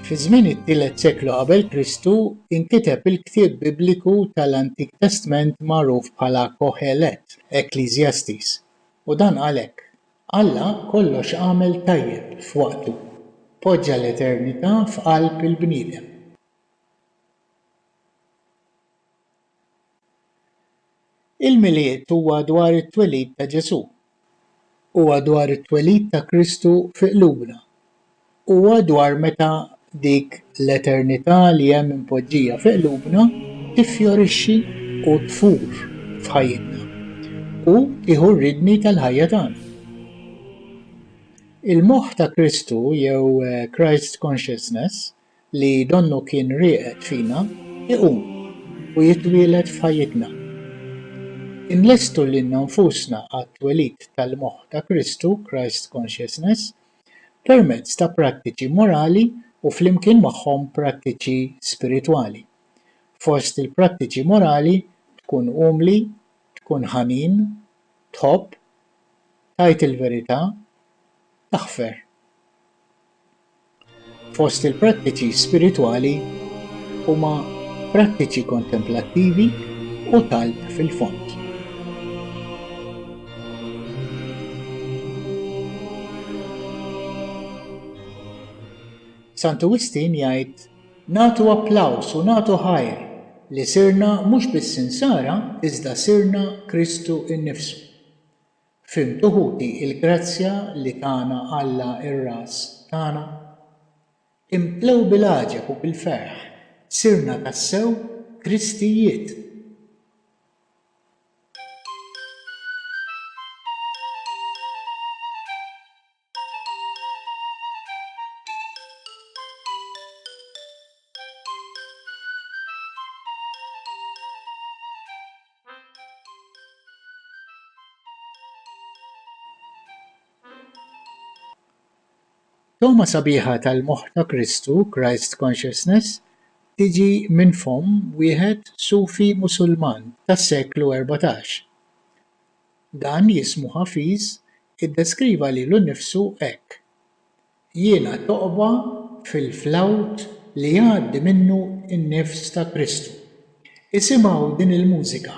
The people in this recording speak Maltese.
Fi żmien it-tielet seklu qabel Kristu inkiteb il-ktieb Bibliku tal-Antik Testment magħruf bħala Kohelet Ecclesiastes, u dan qal hekk, Alla kollox għamel tajjeb f'waqtu, poġġa l-eternità f'qalb il-bniedem. Il-Milied huwa dwar it-twelid ta' Ġesù. Huwa dwar it-twelid ta' Kristu fi qlubna. Huwa dwar meta dik l-eternità li hemm impoġġija fi qlubna tiffjorixxi u tfur f'ħajjitna u tieħu r-riedni tal-ħajja tagħna. Il-moħħ ta' Kristu jew Christ Consciousness li donnu kien rieqed fina iqum u jitwieled f'ħajjitna. Inlestu lilna nfusna għat-twelid tal-moħħ ta' Kristu, Christ Consciousness, permezz ta' prattiċi morali u flimkien magħhom prattiċi spiritwali. Fost il-prattiċi morali tkun umli, tkun ħanin, tħobb, tgħid il-verità, taħfer. Fost il-prattiċi spiritwali huma prattiċi kontemplattivi u talb fil-fond. Santu Wistin jgħid, Nagħtu applaws u nagħtu ħajr li sirna mhux biss insara iżda sirna Kristu innifsu. Fimtu ħuti il-grazzja li tana Alla r-Ras tagħna? Imtlew bil-għaġeb u bil-ferħ, sirna tassew Kristijiet! Togħma sabiħa tal-moħħ ta' Kristu, Christ Consciousness, tiġi minn fomm wieħed Sufi Musulman tas-seklu erbatax. Dan jismu Hafiz Iddeskriva lilu nnifsu hekk, Jiena toqba fil-flawt li jgħaddi minnu n-nifs ta' Kristu. Isimgħu din il-mużika.